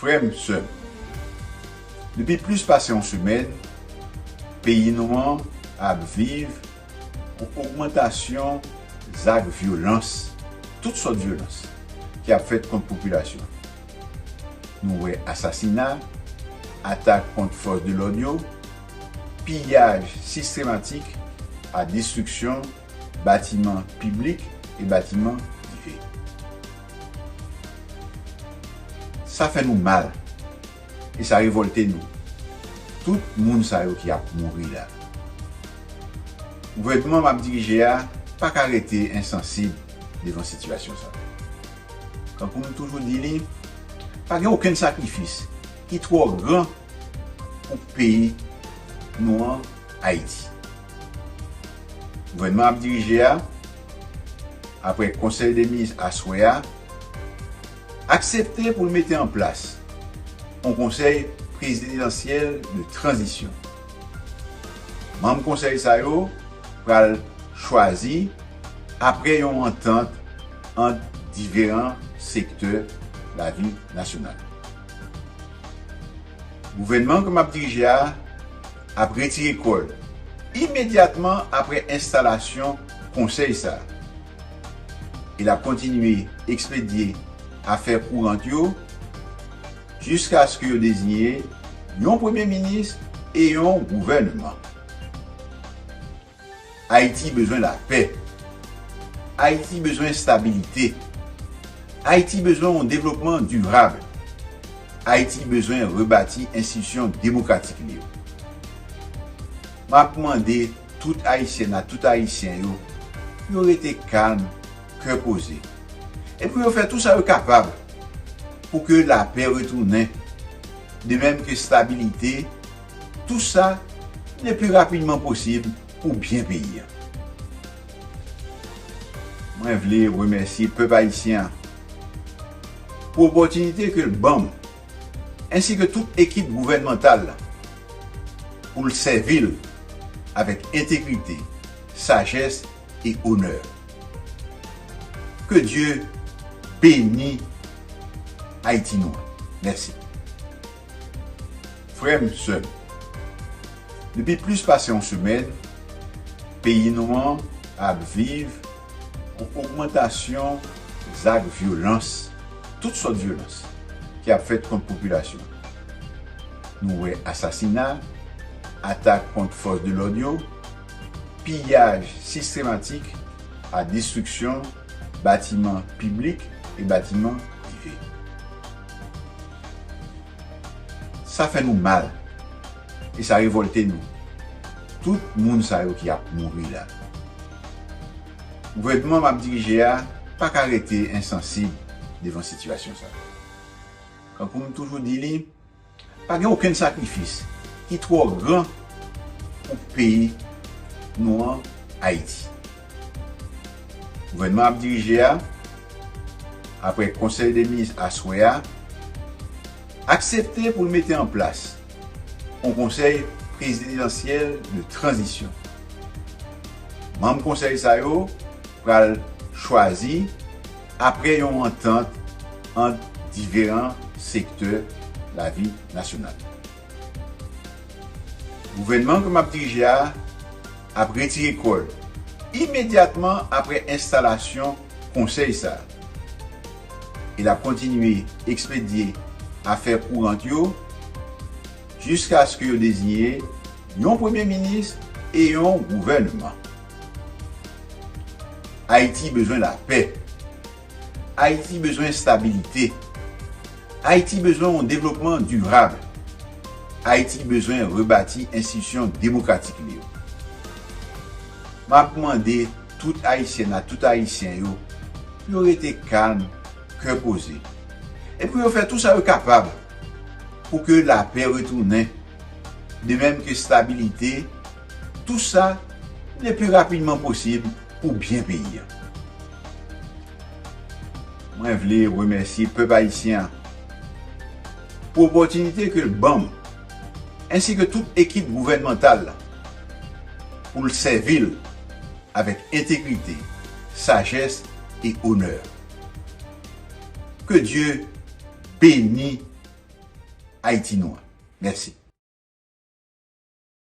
Frè m, sè m, depi plis pase yon semèn, peyi nou an ap viv yon ogmantasyon zak vyolans, tout sòt vyolans, ki ap fèt kont popilasyon an. Nou wè asasina, atak kont fòs de lòd yo. piyaj sistematik a destriksyon batiman piblik e batiman prive. Sa fè nou mal e sa revòlte nou, tout moun sa yo ki ap mouri la. Gouvènman m ap dirije a pa ka rete ensansib devan sitiyasyon sa. Tankou m toujou di li, pa gen okenn sakrifis ki twò gran pou peyi nou an Ayiti. Gouvènman ap dirije a, aprè konsèy de minis aswè a, aksepte pou l mete an plas yon konsèy prezidansyèl de tranzisyon. Manm konsèy sa yo pral chwazi aprè yon antant ant diferan sektè lavi nasyonal. Gouvènman ke m ap dirije a ap retire kò l imedyatman apre enstalasyon Konsèy sa a e l ap kontinye ekspedye afè kourant yo jiskaske yo deziye yon Premye Minis e yon Gouvènman. Ayiti bezwen lapè. Ayiti bezwen stabilite. Ayiti bezwen yon devlopman dirab. Ayiti bezwen rebati enstitisyon demokratik li yo. M ap mande tout Ayisyèn ak tout Ayisyen yo pou yo rete kalm, kè poze e pou yo fè tou sa yo kapab pou ke lapè retounen, de menm ke stabilite. Tou sa le pi rapidman posib pou byen peyi an. Mwen vle remèsye pèp ayisyen an pou opòtinite ke l ban m ensi ke tout ekip gouvènmantal la pou l sèvi l avèk entegrite, sajès e onè. Ke Dye beni Ayiti nou an. Mèsi. Frè m, sè m, depi plis pase yon semèn, peyi nou an ap viv yon ogmantasyon zak vyolans, tout sòt vyolans, ki ap fèt kont popilasyon an. Nou wè asasina, atak kont fòs de lòd yo, piyaj sistematik ak destriksyon batiman piblik e batiman prive. Sa fè nou mal e sa revolte nou, tout moun sa yo ki ap mouri la. Gouvènman m ap dirije a pa ka rete ensansib devan sitiyasyon sa. Kankou m toujou di li, Pa gen okenn sakrifis ki twò gran pou peyi nou an Ayiti. Gouvènman ap dirije a, aprè konsèy de minis aswè a, aksepte pou l mete an plas on konsèy prezidansyèl de tranzisyon. Manm konsèy sa yo pral chwazi Apre yon antant ant diferan sektè lavi nasyonal. Gouvènman ke m ap dirije a ap retire kò l imedyatman apre enstalasyon konsèy sa a e l ap kontinye ekspedye afè kourant yo jiskaske yo deziye yon premye minis e yon gouvènman. Ayiti bezwen lapè. Ayiti bezwen estabilite. Ayiti bezwen yon devlopman dirab. Ayiti bezwen rebati enstitisyon demokratik li yo. M ap mande tout Ayisyèn ak tout Ayisyen yo pou yo rete kalm, kè poze e pou yo fè tou sa yo kapab pou ke lapè retounen, de menm ke estabilite. Tou sa le pi rapidman posib pou byen peyi an. Mwen vle remèsye pèp ayisyen an pou opòtinite ke l ban m ensi ke tout ekip gouvènmantal la pou l sèvi l avèk entegrite, sajès e onè. Ke Dye beni Ayiti nou an. Mèsi.